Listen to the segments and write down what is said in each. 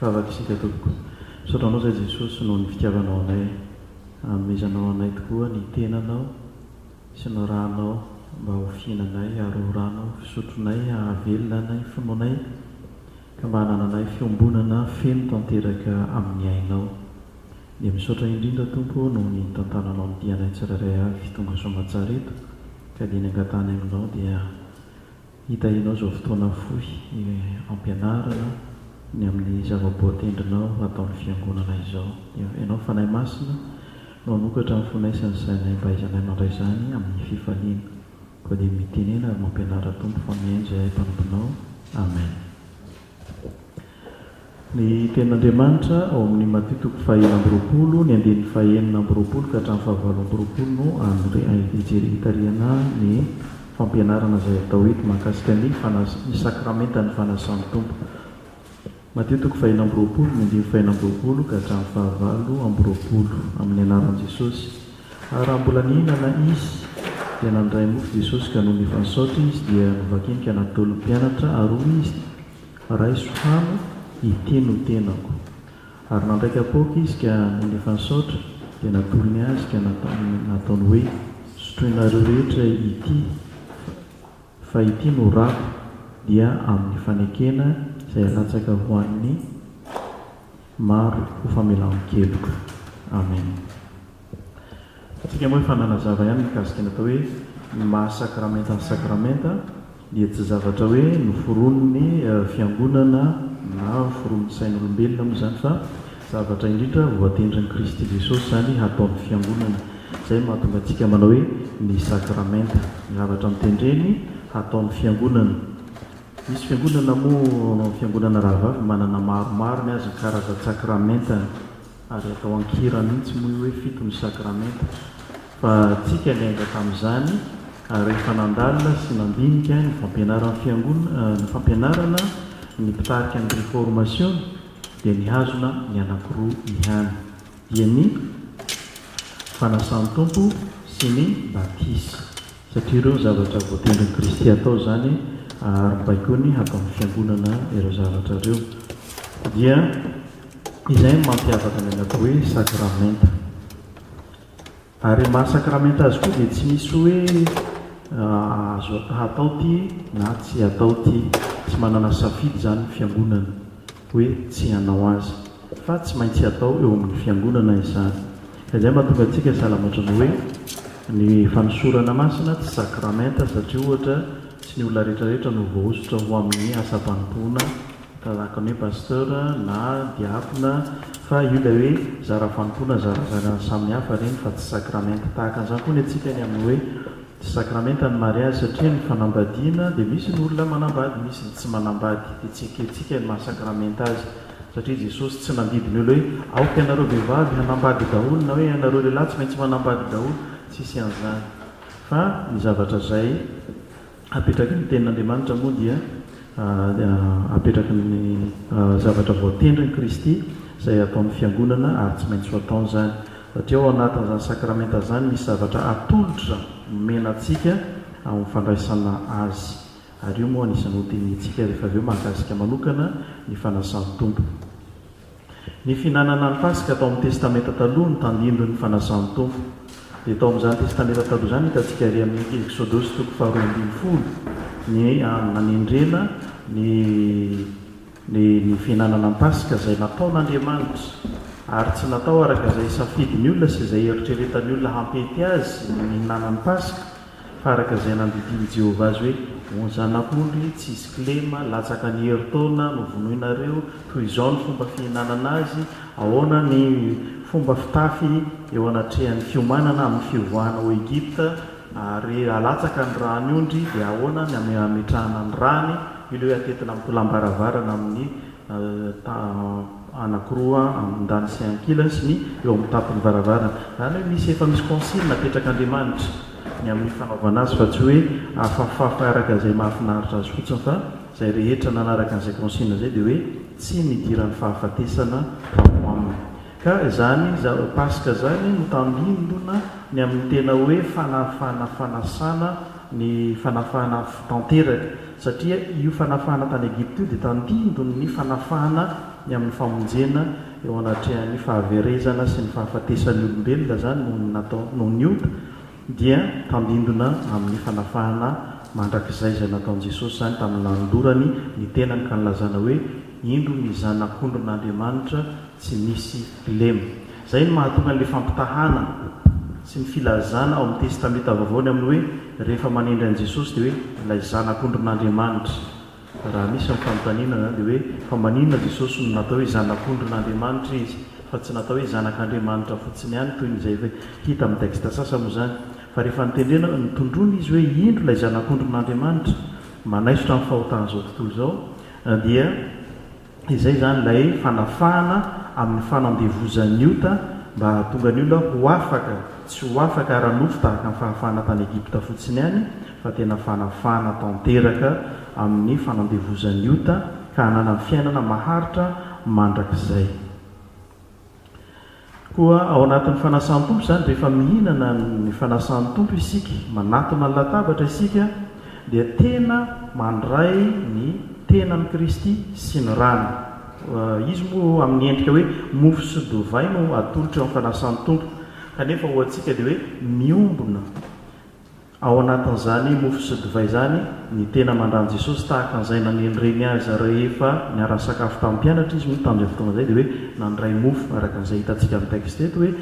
Vavaka isika tompoko. Misaotra anao zay Jesosy noho ny fitiavanao anay. Anomezanao anay tokoa ny tenanao sy ny ranao mba ho fihinanay ary ho rano fisotronay hahavelona anay finoanay ka mba hanananay fiombonana feno tanteraka amin'ny ainao. Dia misaotra indrindra Tompo noho ny nitantananao ny dianay tsirairay avy tonga soamatsara eto ka dia ny angatahanay aminao dia Hitahianao izao fotoana fohy hampianarana ny amin'ny zava-boa tendrinao hataon'ny Fiangonana izao. Dia Ianao Fanahy Masina no hanokatra ny fonay sy ny sainay mba hahaizanay mandray izany amin'ny fifaliana. Koa dia mitenena ary mampianara Tompo fa mihaino izay hay mpanomponao. Amen. Ny Tenin'Andriamanitra, ao amin'ny Maty toko fahenina amby roapolo, ny andininy fahenina amby roapolo ka hatramin'ny fahavaolo amby roapolo no hitarihanà ny fampianarana izay atao eto mahakasika ny fanas- ny sakramentan'ny Fanasan'ny Tompo. Maty toko fahenina amby roapolo, ny andininy fahenina amby roapolo ka hatramin'ny fahavalo amby roapolo, amin'ny anaran'i Jesosy. Ary raha mbola nihinana Izy, dia nandray mofo Jesosy ka nony efa nisaotra Izy dia novakiny ka natolony mpianatra ary hoy Izy, Raiso hano, ity no tenako. Ary nandray kapoaka Izy ka nony efa nisaotra dia natolony azy ka nataony hoe, Sotroinareo rehetra ity, fa ity no rako, dia amin'ny fanekena izay halatsaka ho an'ny. Maro ho famelan-keloka. Amen. Antsika moa efa nanazava ihany mikasika ny atao hoe ny maha sakramenta ny sakramenta dia tsy zavatra hoe noforonin'ny fiangonana na foronin'ny sain'olombelona moa izany fa zavatra indrindra voatendrin'i Kristy Jesosy izany hataon'ny fiangonana. Izay no mahatonga antsika manao hoe ny sakramenta, ny zavatra notendreny hataon'ny fiangonana. Misy fiangonana moa fiangonana rahavavy manana maromaro ny azy ny karazan-tsakramentany ary atao an-kira mihitsy moa io hoe fito ny sakramenta fa tsika niainga tamin'izany ary rehefa nandalina sy nandinika ny fampianaran'ny fiangonana ny fampianarana ny mpitarika ny reformasiona dia nihazona ny anankiroa ihany dia ny fanasan'ny Tompo sy ny batisa. Satria ireo zavatra voatendrin'i Kristy hatao izany ary baikoiny hatao amin'ny Fiangonana ireo zavatra ireo. Dia izay no mampiavaka ny an'atao hoe sakramenta. Ary maha sakramenta azy koa dia tsy misy hoe azo hatao ity na tsy hatao ity. Tsy manana safidy izany ny Fiangonana hoe tsy hanao azy. Fa tsy maintsy hatao eo amin'ny Fiangonana izany. Ka izay mahatonga antsika sahala ohatry ny hoe ny fanosorana masina tsy sakramenta satria ohatra tsy ny olona rehetra rehetra no voahosotra ho amin'ny asam-panompoana tahaka ny hoe pasteur na diakona fa io ilay hoe zara fanompoana zarazarany samy hafa ireny fa tsy sakramenta. Tahaka an'izany koa ny antsika ny amin'ny hoe tsy sakramenta ny mariazy satria ny fanambadiana dia misy ny olona manambady misy ny tsy manambady dia tsy ekentsika ny maha sakramenta azy. Satria Jesosy tsy nandidy ny olona hoe aoka ianareo vehivavy hanambady daholo na hoe ianareo lehilahy tsy maintsy manambady daholo, tsisy an'izany. Fa ny zavatra izay apetraky ny tenin'Andriamanitra moa dia apetraky ny zavatra voatendrin'i Kristy izay hataon'ny fiangonana ary tsy maintsy ho ataony izany. Satria ao anatin'izany sakramenta izany misy zavatra atolotra omena antsika amin'ny fandraisana azy. Ary io moa anisan'ny ho dinihintsika rehefa avy eo mahakasika manokana ny Fanasan'ny Tompo. Ny fihinanana ny Paska tao amin'ny Testamenta Taloha no tandindon'ny Fanasan'ny Tompo. Dia tao amin'izany Testamenta Taloha izany no hitantsika ery amin'ny Eksodosy toko faharoa ambin'ny folo ny hanendrena ny ny ny fihinanana ny Paska izay nataon'Andriamanitra ary tsy natao araka izay safidin'ny olona sy izay eritreretan'ny olona hampety azy ny mihinana ny Paska fa araka izay nandidian'i Jehovah azy hoe, O zanak'ondry tsy hisy kilema, latsaka ny herintaona, novonoinareo, toy izao ny fomba fihinanana azy, ahoana ny fomba fitafy eo anatrehan'ny fiomanana amin'ny fivoahana ao Egypta, ary halatsaka ny ràny ondry, dia ahoana ny hametrahana ny ràny, ilay hoe atetina amin'ny tolam-baravarana amin'ny. anankiroa andan sy ankilany sy ny eo amin'ny tampon'ny varavarana. Zany hoe misy efa misy consigne apetrak'Andriamanitra ny amin'ny fanaovana azy fa tsy hoe afafafa araka izay mahafinaritra azy fotsiny fa izay rehetra nanaraka an'izay consigne izay dia hoe tsy nidiran'ny fahafatesana tao aminy. Ka izany Paska izany no tandindona ny amin'ny tena hoe fanafana fanasana ny fanafana tanteraka. Satria io fanafahana tany Egypta io dia tandindon'ny fanafahana ny amin'ny famonjena eo anatrehan'ny fahaverezana sy ny fahafatesan'ny olombelona izany noho ny nataony, noho ny ota dia tandindona amin'ny fanafahana mandrakizay izay nataon'i Jesosy izany tamin'ny nanolorany ny tenany ka nilazana hoe, Indro ny Zanak'ondrin'Andriamanitra tsy misy lemy. Izay no mahatonga ny fampitahana sy ny filazana ao amin'ny Testamenta Vaovao ny amin'ny hoe rehefa manendry an'i Jesosy dia hoe ilay Zanak'ondrin'Andriamanitra. Raha misy ny fanontaniana izany dia hoe fa maninona Jesosy no natao hoe Zanak'ondrin'Andriamanitra izy fa tsy natao hoe Zanak'Andriamanitra fotsiny ihany toy ny izay efa hita amin'ny texte sasany moa izany fa rehefa notendrena notondroina izy hoe indro ilay Zanak'ondrin'Andriamanitra manaisotra ny fahotan'izao tontolo izao dia Izay izany ilay fanafahana amin'ny fanandevozan'ny ota mba hahatonga ny olona ho afaka, tsy ho afaka ara-nofo tahaka ny fahafahana tany Egypta fotsiny ihany, fa tena fanafahana tanteraka amin'ny fanandevozan'ny ota ka hananany fiainana maharitra mandrakizay. Koa ao anatin'ny fanasan'ny Tompo izany, rehefa mihinana ny fanasan'ny Tompo isika, manatona ny latabatra isika, dia tena mandray ny tenan'i Kristy sy ny rany. Izy moa amin'ny endrika hoe mofo sy dovay no atolotra eo amin'ny fanasan'ny Tompo, kanefa ho antsika dia hoe miombona. Ao anatin'izany mofo sy divay izany, ny tena mandà an'i Jesosy tahaka an'izay nanely reny azy rehefa niara-nisakafo tamin'ny mpianatra izy, moa tamin'izay fotoana izay dia hoe nandray mofo, araka an'izay hitantsika amin'ny texte eto hoe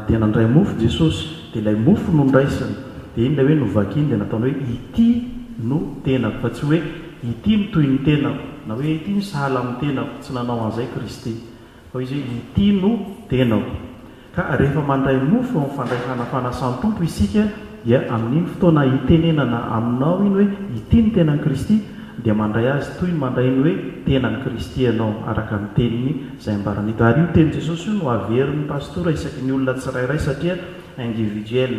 dia nandray mofo Jesosy, dia ilay mofo no noraisiny, dia iny ilay hoe novakiny dia nataony hoe ity no tenako, fa tsy hoe ity no toy ny tenako, na hoe ity no sahala amin'ny tenako, tsy nanao an'izay Kristy. Hoy izy hoe, Ity no tenako. Ka rehefa mandray mofo amin'ny fandraisana fanasan'ny Tompo isika, dia amin'iny fotoana itenenana aminao iny hoe, Ity ny tenan'i Kristy, dia mandray azy toy ny mandray ny hoe tenan'i Kristy ianao, araka ny teniny izay ambarany eto. Ary io tenin'i Jesosy io no averin'ny pastora isaky ny olona tsirairay, satria individuel.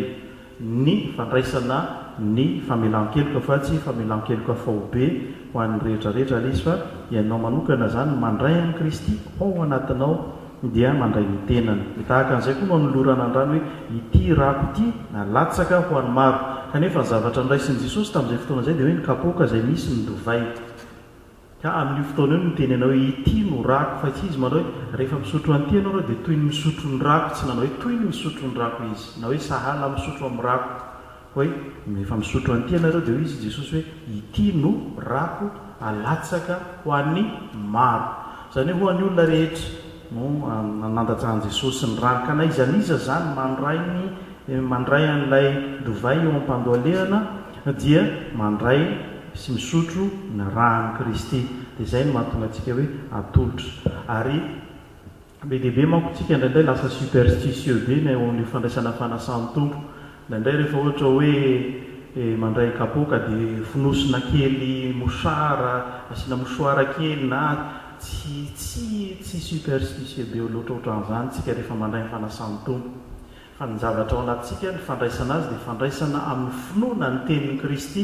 ny fandraisana ny famelan-keloka fa tsy famelan-keloka faobe ho an'ny rehetra rehetra ary izy fa ianao manokana izany mandray an'i Kristy ao anatinao dia mandray ny tenany. Dia tahaka an'izay koa no anolorana ny rany hoe ity rako ity na latsaka ho an'ny maro. Kanefa ny zavatra noraisin'i Jesosy tamin'izay fotoana izay dia hoe ny kapoaka izay misy ny divay. Ka amin'io fotoana io niteny anao hoe ity no rako fa tsy izy manao hoe rehefa misotro an'ity ianao ireo dia toy ny misotro ny rako tsy nanao hoe toy ny misotro ny rako izy na hoe sahala amin'ny misotro amin'ny rako fa hoe rehefa misotro an'ity ianareo dia hoy izy Jesosy hoe ity no rako alatsaka ho an'ny maro izany hoe ho an'ny olona rehetra no nandatsahan'i Jesosy ny rany. Ka na iza na iza izany mandray ny mandray an'ilay divay eo am-pandohalehana dia mandray sy misotro ny ran'i Kristy. Dia izay no mahatonga antsika hoe atolotra. Ary be dia be manko isika indraindray lasa superstitieux be ny eo amin'io fandraisana fanasan'ny Tompo. Indraindray rehefa ohatra hoe mandray kapoaka dia fonosina kely mouchard, asiana mouchoir kely na tsy tsy tsy superstitieux be loatra ohatran'izany isika rehefa mandray ny fanasan'ny Tompo. Fa ny zavatra ao anatintsika, ny fandraisana Azy dia fandraisana amin'ny finoana ny tenin'i Kristy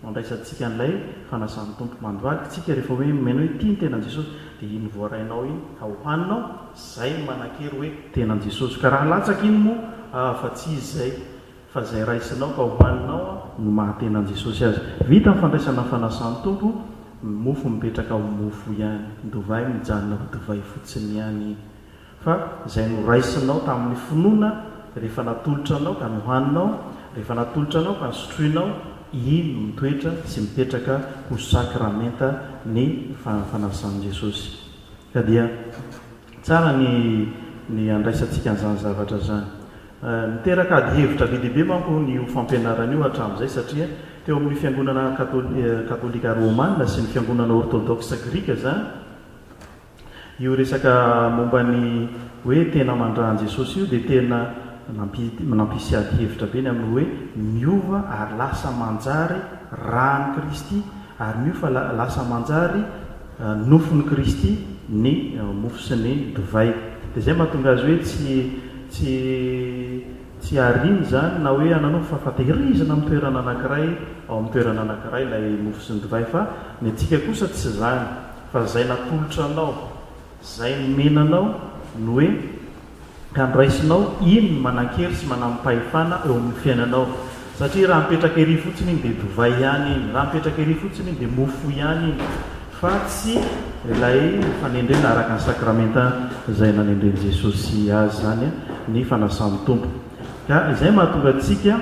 Andraisantsika an'ilay fanasan'ny Tompo mandvadika isika rehefa hoe miaina hoe tia ny tenan'i Jesosy. Dia iny voarainao iny ka hohanina ao, izay no manan-kery hoe tenan'i Jesosy. Ka raha latsaka iny moa ah, fa tsy izy izay, fa izay raisinao ka hohanina ao no maha tenan'i Jesosy azy. Vita ny fandraisana ny fanasan'ny Tompo, ny mofo mipetraka ho mofo ihany, ny divay mijanona ho divay fotsiny ihany iny. Fa izay noraisinao tamin'ny finoana, rehefa natolotra anao ka nohaninao, rehefa natolotra anao ka sotroinao, iny no mitoetra sy mipetraka ho sakramenta ny fa fanasan'i Jesosy. Ka dia tsara ny ny handraisantsika an'izany zavatra izany. Niteraka ady hevitra be dia be manko io fampianarana io hatramin'izay, satria teo amin'ny fiangonana katôli katôlika rômana sy ny fiangonana ôrtôdôksa grika izany, Io resaka momba ny hoe tena mandrà an'i Jesosy io dia tena nampisy ady hevitra be ny amin'ny hoe miova ary lasa manjary ràn'i Kristy ary miofa lasa manjary nofon'i Kristy ny mofo sy ny divay. Dia izay mahatonga azy hoe tsy tsy tsy ariana izany na hoe ananofy fa fa tehirizina amin'ny toerana anankiray ao amin'ny toerana anankiray ilay mofo sy ny divay fa ny antsika kosa tsy izany. Fa zay natolotra anao, zay nomena anao ny hoe handraisinao iny ny manankery sy manampahefana eo amin'ny fiainanao. Satria raha mipetraka ery fotsiny iny dia divay ihany iny, raha mipetraka ery fotsiny iny dia mofo ihany iny fa tsy ilay fanendrena araka ny sakramenta izay nanendren'i Jesosy azy izany, ny fanasan'ny Tompo. Ka izay mahatonga antsika.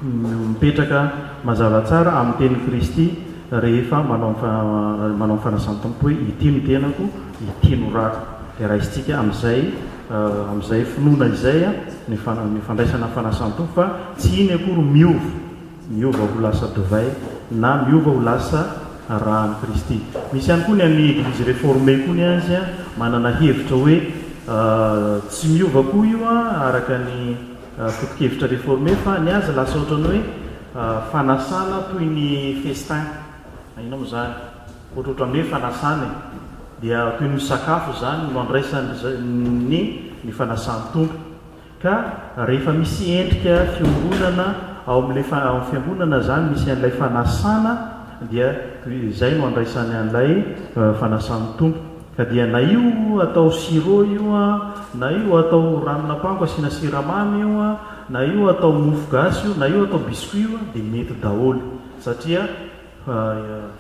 mipetraka mazava tsara amin'ny tenin'i Kristy rehefa manao ny manao ny fanasan-tompo hoe ity no tenako, ity no rako. Dia raisintsika amin'izay amin'izay finoana izay ny ny fandraisana ny fanasan-tompo fa tsy iny akory miova, miova ho lasa divay na miova ho lasa ra an'i Kristy. Misy ihany koa ny an'ny Eglizy Reformée koa ny azy manana hevitra hoe tsy miova koa io araka ny Foto-kevitra reformer fa ny azy lasa ohatran'ny hoe fanasana toy ny festin, inona moa izany? ohatra ohatran'ny hoe fanasana e! dia toy ny misakafo izany no andraisan'ny ny fanasan-tompo ka rehefa misy endrika fiombonana ao amin'ilay ao amin'ny fiangonana izany misy an'ilay fanasana dia izay no andraisany an'ilay fanasan'ny tompo. Ka dia na io atao sirop io an, na io atao ranon'ampango asiana siramamy io an, na io atao mofo gasy io, na io atao biscuit io an, dia mety daholo satria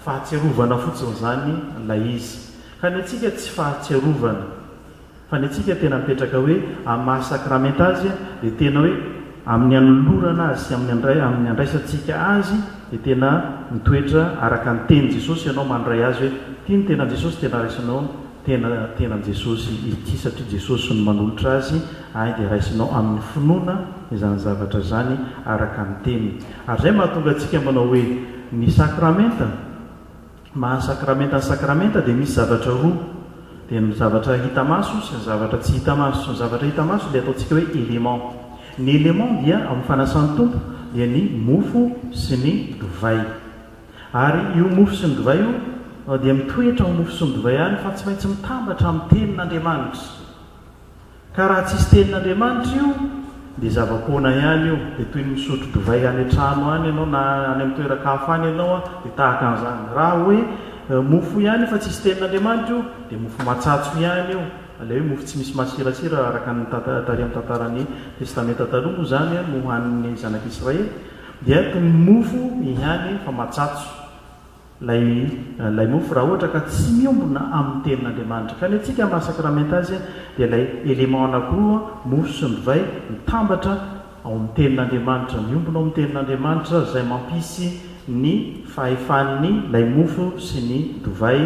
fahatsiarovana fotsiny izany ilay izy. Ka ny antsika tsy fahatsiarovana, fa ny antsika tena mipetraka hoe amin'ny maha sakramenta azy dia tena hoe. Amin'ny hanolorana azy sy amin'ny handraisantsika azy dia tena mitoetra araka ny tenin'i Jesosy ianao mandray azy hoe ity ny tenan'i Jesosy tena raisinao tena tenan'i Jesosy ity satria Jesosy no manolotra azy ahy dia raisinao amin'ny finoana izany zavatra izany araka ny teniny ary izay mahatonga antsika manao hoe ny sakramenta Ny maha sakramenta ny sakramenta dia misy zavatra roa, dia ny zavatra hita maso sy ny zavatra tsy hita maso. Ny zavatra hita maso ilay ataontsika hoe élément. Ny élément dia ao amin'ny fanasan'ny Tompo dia ny mofo sy ny divay. Ary io mofo sy ny divay io dia mitoetra ao mofo sy ny divay any fa tsy maintsy mitambatra amin'ny tenin'Andriamanitra. Ka raha tsisy tenin'Andriamanitra io dia zava-poana ihany io, dia toy ny misotro divay any an-trano any ianao na any amin'ny toeran-kafa any ianao dia tahaka an'izany. Raha hoe mofo ihany fa tsisy tenin'Andriamanitra io dia mofo matsatso ihany io, ilay hoe mofo tsy misy masirasira araka ny tary amin'ny tantaran'ny Testamenta Taloha moa izany no hanin'ny zanak'Israely dia toy ny mofo ihany fa matsatso. Ilay ilay mofo raha ohatra ka tsy miombona amin'ny tenin'Andriamanitra. Ka ny antsika maha sakramenta azy dia ilay élément anakiroa, mofo sy ny divay, mitambatra ao amin'ny tenin'Andriamanitra, miombona ao amin'ny tenin'Andriamanitra, izay mampisy ny fahefan'ny ilay mofo sy ny divay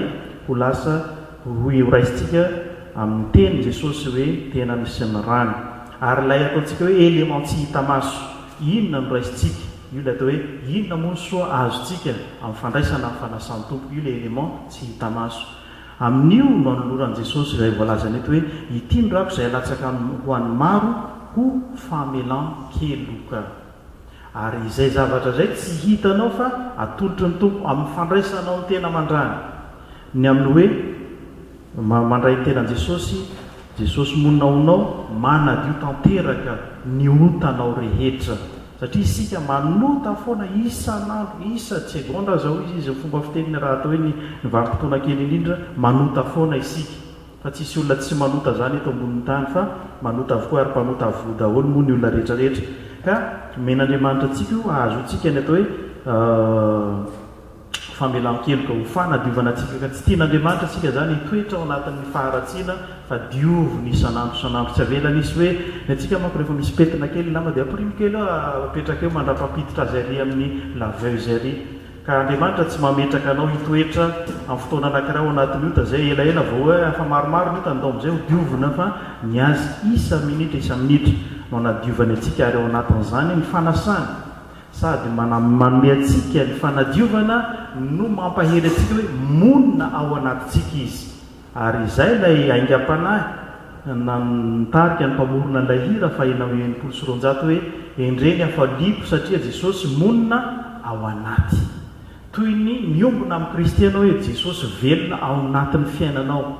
ho lasa ho rohy horaisintsika amin'ny teny Jesosy hoe tenany sy ny rany. Ary ilay ataontsika hoe élément tsy hita maso, inona no raisintsika? Io ilay atao hoe inona moa ny soa azontsika amin'ny fandraisana ny fanasan'ny Tompo. Io ilay élément tsy hita maso. Amin'io no anoloran'i Jesosy izay voalazany eto hoe, Ity ny rako izay alatsaka ho an'ny maro ho famelan-keloka. Ary izay zavatra izay tsy hitanao fa atolotry ny Tompo amin'ny fandraisanao ny tena mandràny. Ny amin'ny hoe. Mba mandray ny tenan'i Jesosy, Jesosy monina ao aminao, manadio tanteraka ny otanao rehetra. Satria isika manota foana isan'andro, isa segondra zao izy, izy ny fomba fiteniny raha atao hoe ny ny vanim-potoana kely indrindra, manota foana isika. Fa tsisy olona tsy manota zany eto ambonin'ny tany fa manota avokoa ary mpanota avoa daholo moa ny olona rehetra rehetra. Ka omen'Andriamanitra antsika io hahazoantsika ny atao hoe famelan-keloka, ho fanadiovana antsika ka tsy tian'Andriamanitra isika izany hitoetra ao anatin'ny faharatsiana fa dioviny isan'andro isan'andro, tsy avelany hisy hoe ny antsika manko rehefa misy pentina kely ny lamba dia amporino kely eo apetraka eo mandrapampiditra azy ary amin'ny laveuse ary ka Andriamanitra tsy mametraka anao hitoetra amin'ny fotoana anankiray ao anatin'ny ota izay elaela vao hoe efa maromaro ny ota ndao amin'izay ho diovina fa ny azy isa minitra isa minitra no anadiovany antsika ary ao anatin'izany ny fanasany Sady manome antsika ny fanadiovana no mampahery antsika hoe monina ao anatintsika Izy. Ary izay ilay aingam-panahy nitarika ny mpamorona an'ilay hira fahenina amby enimpolo sy roanjato hoe, Endreny hafaliako satria Jesosy monina ao anaty. Toy ny miombona amin'i Kristy ianao hoe Jesosy velona ao anatin'ny fiainanao.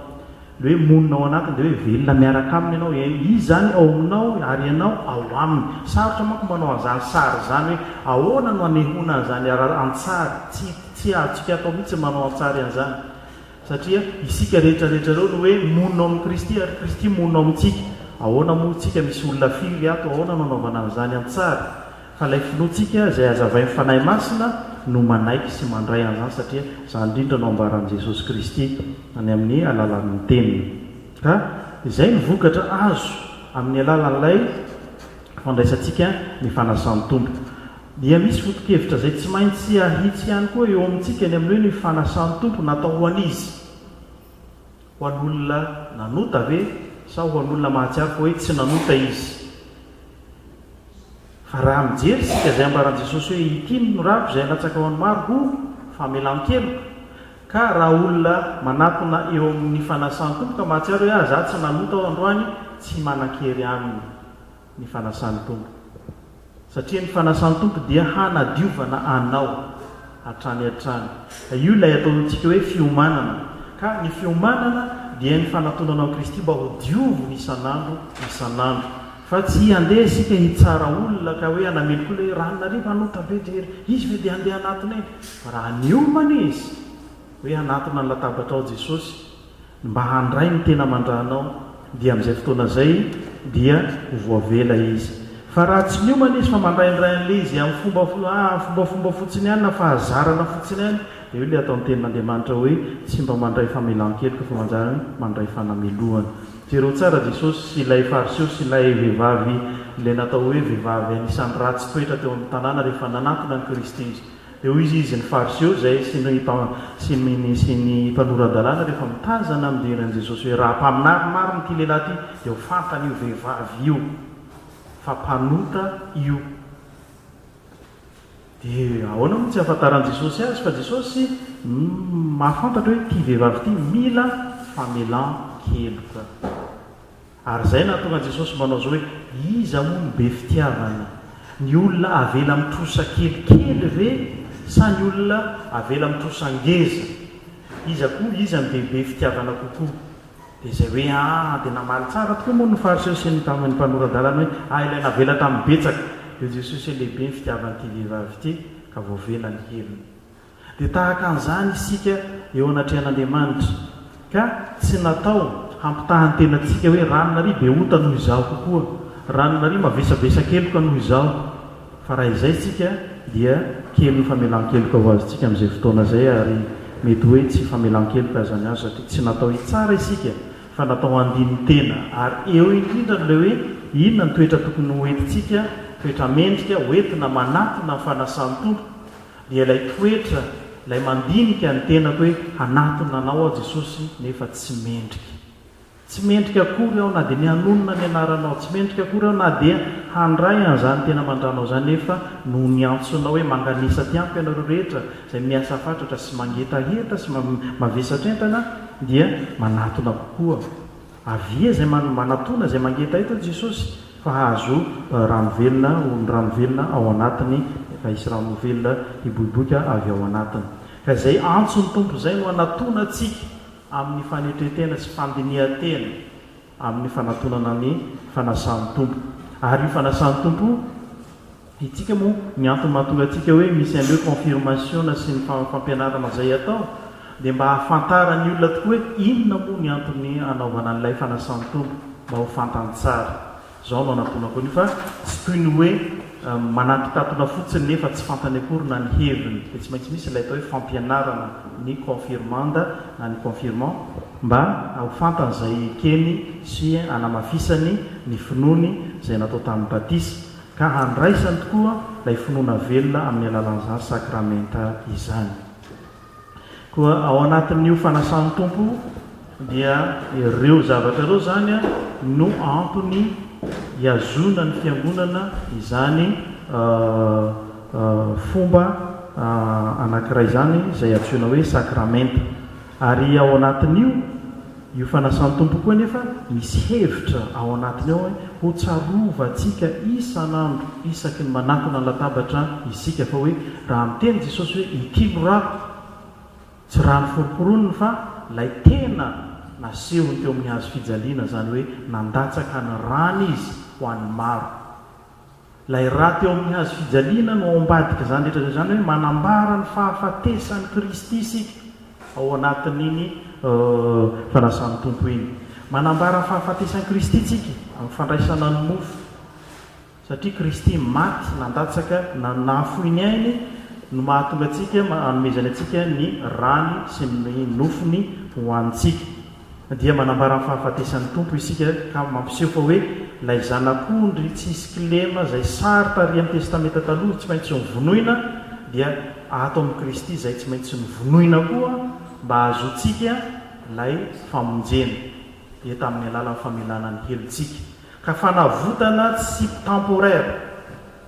Ilay hoe monina ao anatiny dia hoe velona miaraka aminy ianao, izy izany ao aminao ary ianao ao aminy. Sarotra manko manao an'izany sary izany hoe ahoana no hanehoana an'izany an-tsary, tsy tsy azontsika atao mihitsy ny manao an-tsary an'izany satria isika rehetra rehetra ireo no hoe monina ao amin'i Kristy ary Kristy monina ao amintsika. Ahoana moa isika, misy olona firy ato, ahoana no anaovana an'izany an-tsary? Fa ilay finoantsika izay hazavain'ny Fanahy Masina no manaiky sy mandray an'izany satria izany indrindra no ambaran'i Jesosy Kristy any amin'ny alalan'ny Teniny. Ka izay no vokatra azo amin'ny alalan'ilay fandraisantsika ny Fanasan'ny Tompo. Dia misy foto-kevitra izay tsy maintsy ahitsy ihany koa eo amintsika ny amin'ny hoe ny Fanasan'ny Tompo natao ho an'iza? Ho an'olona nanota ve sa ho an'olona mahatsiaro fa hoe tsy nanota izy? Raha mijery isika izay ambaran'i Jesosy hoe ity no norako izay halatsaka ho an'ny maro ho famelan-keloka. Ka raha olona manatona eo amin'ny fanasan'ny Tompo ka mahatsiaro hoe ah za tsy nanota aho androany tsy manan-kery aminy ny fanasan'ny Tompo. Satria ny fanasan'ny Tompo dia hanadiovana anao hatrany hatrany. Io ilay ataontsika hoe fiomanana. Ka ny fiomanana dia ny fanatonana an'i Kristy mba ho dioviny isan'andro isan'andro. Fa tsy handeha isika hitsara olona ka hoe hanamely koa ilay hoe Ranonarivo hanota be dia ery, izy ve dia handeha hanatona eny? Fa raha niomana izy hoe hanatona ny latabatra ao Jesosy mba handray ny tena aman-drany ao dia amin'izay fotoana izay dia ho voavela izy. Fa raha tsy niomana izy fa mandraindray an'ilay izy amin'ny fomba fombafomba fotsiny ihany na fahazarana fotsiny ihany dia eo ilay ataon'ny tenin'Andriamanitra hoe tsy mba mandray famelan-keloka fa mandray fanamelohana. Jereo tsara Jesosy sy ilay Fariseo sy ilay vehivavy ilay natao hoe vehivavy anisan'ny ratsy toetra teo amin'ny tanàna rehefa nanatona an'i Kristy izy. Dia hoy izy, Izy ny Fariseo izay sy ny sy ny sy ny mpanora-dalàna rehefa mitazana mijery an'i Jesosy hoe raha mpaminany marina ity lehilahy ity dia ho fantan'io vehivavy io fa mpanota io. Dia ahoana moa tsy ahafantaran'i Jesosy azy fa Jesosy mahafantatra hoe ity vehivavy ity mila famelan-keloka. Ary izay nahatonga an'i Jesosy manao izao hoe, iza moa no be fitiavana? Ny olona avela mitrosa kelikely ve sa ny olona avela mitrosa ngeza? Iza koa, iza no dia be fitiavana kokoa? Dia izay hoe, Aa, dia namaly tsara tokoa moa ny Fariseo sy ny mpaminany mpanora-dalana hoe, Aa, ilay navela tamin'ny betsaka. Dia Jesosy hoe, Lehibe ny fitiavan'ity vehivavy ity, ka voavela ny heriny. Dia tahaka an'izany isika eo anatrehan'Andriamanitra, ka tsy natao hampitaha ny tenantsika hoe, Ranona ry be ota noho izaho kokoa, ranona ry mavesabesa keloka noho izaho. Fa raha izay tsika dia kely ny famelan-keloka ho azontsika amin'izay fotoana izay ary mety hoe tsy famelan-keloka aza ny azo satria tsy natao hitsara isika fa natao handini-tena ary eo indrindra an'ilay hoe inona ny toetra tokony ho entintsika, toetra mendrika, ho entina manatona ny fanasan'ny Tompo dia ilay toetra, ilay mandinika ny tenako hoe hanatona Anao aho Jesosy nefa tsy mendrika. Tsy mendrika akory aho na dia ny hanonona ny anaranao, tsy mendrika akory aho na dia handray an'izany tena aman-dranao izany, nefa noho ny antsonao hoe manganesa aty amiko ianareo rehetra izay miasa fatratra sy mangetaheta sy mavesatra entana dia manatona kokoa. Avia izay manatona, izay mangetaheta hoy Jesosy fa hahazo rano velona, ho ny rano velona ao anatiny, fa hisy rano velona hiboiboika avy ao anatiny. Ka izay antso ny Tompo izay no hanatona antsika. amin'ny fanetren-tena sy fandinihan-tena amin'ny fanatonana ny fanasan'ny Tompo. Ary io fanasan'ny Tompo io, hitsika moa ny antony mahatonga antsika hoe misy an'ireo konfirmasiona sy ny fampianarana izay atao, dia mba hahafantaran'ny olona tokoa hoe inona moa ny antony hanaovana an'ilay fanasan'ny Tompo, mba ho fantany tsara. Izao no anamponako an'io fa tsy toy ny hoe manantontatona fotsiny nefa tsy fantany akory na ny heviny dia tsy maintsy misy ilay atao hoe fampianarana ny confirmanda na ny confirmant mba ho fantany izay ekeny sy hanamafisany ny finoany izay natao tamin'ny batisa ka handraisany tokoa ilay finoana velona amin'ny alalan'izany sakramenta izany. Koa ao anatin'io fanasan'ny Tompo dia ireo zavatra ireo izany no antony hihazoana ny fiangonana izany fomba anankiray izany izay antsoina hoe sakramenta. Ary ao anatin'io. Io fanasan-tompo koa anefa misy hevitra ao anatiny ao hoe ho tsarovantsika isan'andro isaky ny manatona ny latabatra isika fa hoe raha miteny Jesosy hoe ity no rako, tsy raha noforoporoniny fa ilay tena nasehony teo amin'ny hazo fijaliana izany hoe nandatsaka ny rany izy ho an'ny maro. Ilay raty ao amin'ny hazo fijaliana no ao ambadik'izany rehetra izany hoe manambara ny fahafatesan'i Kristy isika ao anatin'iny Fanasan'ny Tompo iny. Manambara ny fahafatesan'i Kristy isika amin'ny fandraisana ny mofo satria Kristy maty nandatsaka na nahafoy ny ainy no mahatonga antsika hanomezany antsika ny rany sy ny nofony hohanintsika. dia manambara ny fahafatesan'ny Tompo isika ka mampiseho fa hoe ilay Zanak'ondry tsy hisy kilema izay sary tarihan'ny Testamenta Taloha tsy maintsy novonoina dia ato amin'i Kristy izay tsy maintsy novonoina koa mba hahazoantsika ilay famonjena dia tamin'ny alalan'ny famelana ny helontsika ka fanavotana tsy temporaire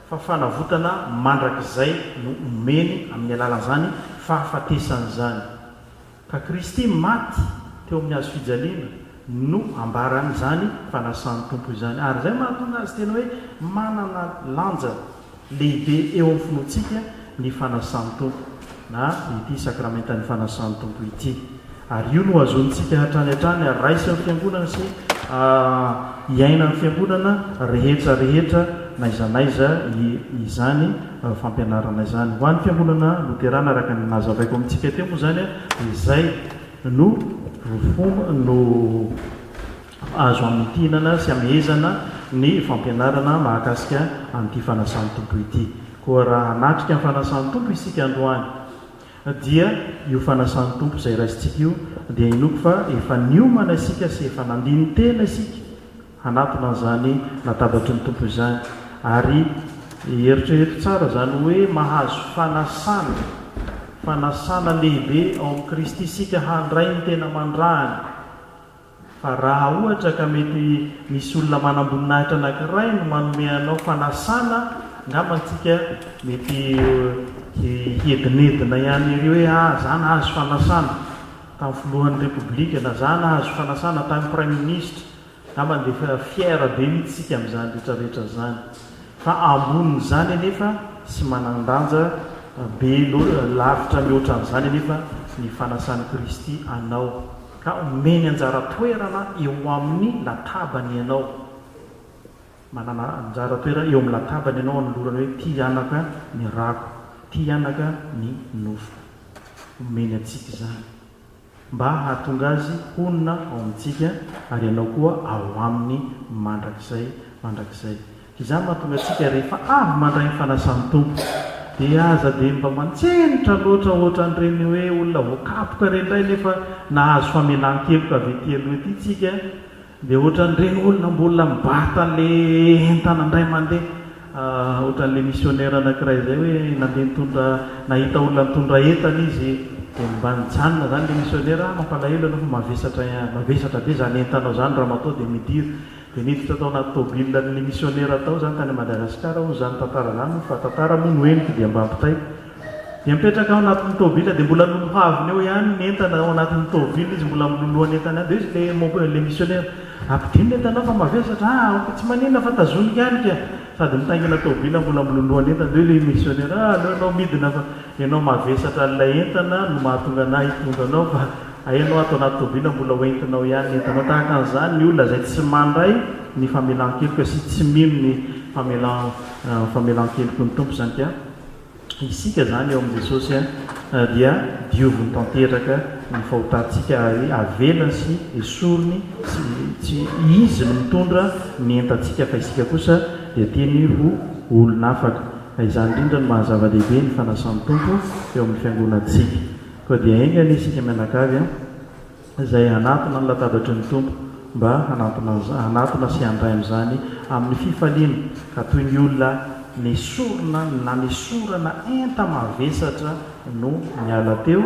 fa fanavotana mandrakizay no omeny amin'ny alalan'izany fahafatesana izany. Ka Kristy maty teo amin'ny hazo fijaliana no ambaran'izany fanasan'ny Tompo izany. Ary izay mahatonga azy tena hoe manana lanja lehibe eo amin'ny finoantsika ny fanasan'ny Tompo, na ity Sakramentan'ny Fanasan'ny Tompo ity. Ary io no hazonintsika hatrany hatrany haraisin'ny Fiangonana sy hiainan'ny Fiangonana rehetra rehetra n'aiza n'aiza izany. fampianarana izany. Ho an'ny Fiangonana Loterana, araka ny nazavaiko amintsika teo moa izany, izay no fomba no azo hamintinana sy hamehezana ny fampianarana mahakasika an'ity Fanasan'ny Tompo ity. Koa raha hanatrika ny Fanasan'ny Tompo isika androany, dia io Fanasan'ny Tompo izay raisintsika io dia inoako fa efa niomana isika sy efa nandini-tena isika, hanatona an'izany latabatry ny Tompo izany. Ary eritrereto tsara izany hoe mahazo fanasana, fanasana lehibe ao amin'i Kristy isika handray ny tena mandrahana. Fa raha ohatra ka mety misy olona manam-boninahitra anankiray no manome anao fanasana, angamba antsika mety hiedinedina ihany ery hoe, ah, za nahazo fanasana tamin'ny filohan'ny Repoblika, na za nahazo fanasana tamin'ny Praiminisitra. Angambany dia efa fière be mihitsy isika amin'izany rehetra rehetra izany. Fa ambonin'izany anefa sy manan-danja be loatra, lavitra mihoatra an'izany anefa ny fanasan'i Kristy anao ka omeny anjara toerana eo amin'ny latabany ianao. Manana anjara toerana eo amin'ny latabany ianao anolorany hoe, Ity anaka ny rako, ity anaka ny nofoko. Omeny antsika izany. mba hahatonga azy honina ao amintsika ary ianao koa ao aminy mandrakizay mandrakizay. Izany mahatonga antsika rehefa avy mandray ny fanasan'ny Tompo dia aza dia mba mantsenitra loatra ohatran'ireny hoe olona voakapoka ireny indray nefa nahazo famelan-keloka avy ety aloha ety tsika Dia ohatran'ireny olona mbola mibata le entana indray mandeha ohatran'ilay misionera anakiray izay hoe nandeha nitondra nahita olona nitondra entana izy dia mba nijanona izany ilay misionera ah mampalahelo ianao fa mavesatra mavesatra be izany entanao izany ramatoa dia midira dia niditra tao anaty tomobilan'ilay misionera tao izany tany Madagasikara hono izany tantara izany fa tantara moa no henoko dia mba ampitaiko Dia mipetraka ao anatin'ny tôbila dia mbola nonohaviny eo ihany ny entana ao anatin'ny tôbila izy mbola miloloha ny entany ihany dia hoy izy le le misionera ampidino ny entanao fa mavesatra ah ok tsy maninona fa tazoniko ihany ka sady mitaingina tôbila mbola miloloha ny entany dia hoy le misionera ah aleo ianao midina fa ianao mavesatra an'ilay entana no mahatonga anah hitondra anao fa hay ianao ato anaty tôbila mbola ho entinao ihany ny entanao tahaka an'izany ny olona izay tsy mandray ny famelan-keloka sy tsy mino ny famelan famelan-kelok'ny Tompo izany ka Isika izany eo amin'i Jesosy dia dioviny tanteraka ny fahotantsika ary avelany sy esoriny sy tsy Izy no mitondra ny entantsika fa isika kosa dia tiany ho olon'afaka. Ka izany indrindra no maha zava-dehibe ny fanasan'ny Tompo eo amin'ny fiangonantsika. Koa dia enga anie isika mianakavy a! izay hanatona ny latabatry ny Tompo mba hanatona sy handray amin'izany amin'ny fifaliana, ka toy ny olona nesorina na nesorana enta-mavesatra no niala teo,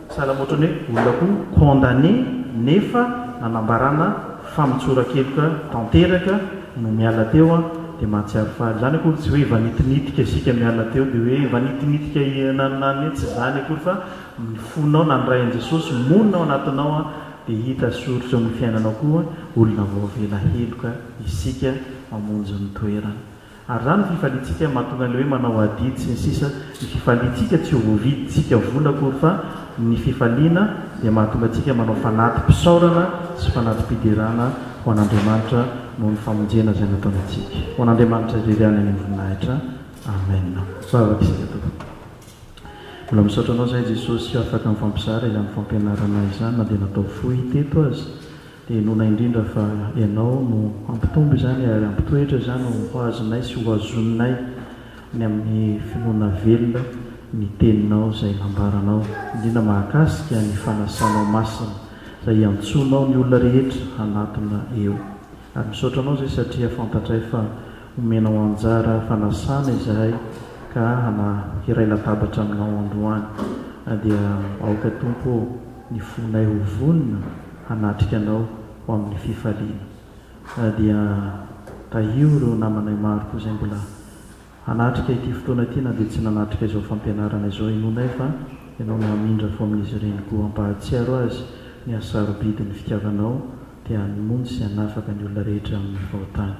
sahala amin'ny ohatran'ny hoe olona koa condamné nefa nanambarana fa mitsorakeloka tanteraka no miala teo an, dia mahatsiaro faly. Izany akory tsy hoe efa nitinitika isika miala teo dia hoe efa nitinitika na na na tsy izany akory fa Ny fonao nandray an'i Jesosy monina ao anatinao dia hita soritra eo amin'ny fiainanao koa olona voavela heloka isika mamonjy ny toerana. Ary izany ny fifaliantsika mahatonga an'ilay hoe manao adidy sy ny sisa Ny fifaliantsika tsy hovidintsika vola akory fa ny fifaliana dia mahatonga antsika manao fanati-pisaorana sy fanati-piderana ho an'Andriamanitra noho ny famonjena izay nataony antsika. Ho an'Andriamanitra irery ihany ny voninahitra. Amen. Vavaka isika tompoko. Mbola misaotra anao zahay Jesosy afaka mifampizara izany fampianarana izany na dia natao fohy teto aza dia inoana indrindra fa ianao no hampitombo izany ary hampitoetra izany ho azonay sy ho azonay ny amin'ny finoana velona ny teninao izay nambaranao indrindra mahakasika ny fanasanao masina izay iantsoanao ny olona rehetra hanatona eo Ary misaotra anao zay satria fantatray fa omenao anjara fanasana izahay ka hana hiray latabatra aminao androany dia aoka Tompo ô ny fonay ho vonona hanatrika anao ho amin'ny fifaliana dia tahio ireo namanay maro koa zay mbola Hanatrika ity fotoana ity na dia tsy nanatrika izao fampianarana izao henoinay fa Ianao no hamindra fo amin'izy ireny koa. Hampahatsiaro azy ny hahasarobidy ny fitiavanao dia hanmony sy hanafaka ny olona rehetra amin'ny fahotany.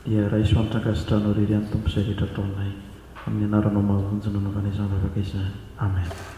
Dia raiso antotra ankasitranao irery any Tompo izay rehetra ataonay. Amin'ny anaranao mahavonjy no anaovana izany vavaka izany. Amen.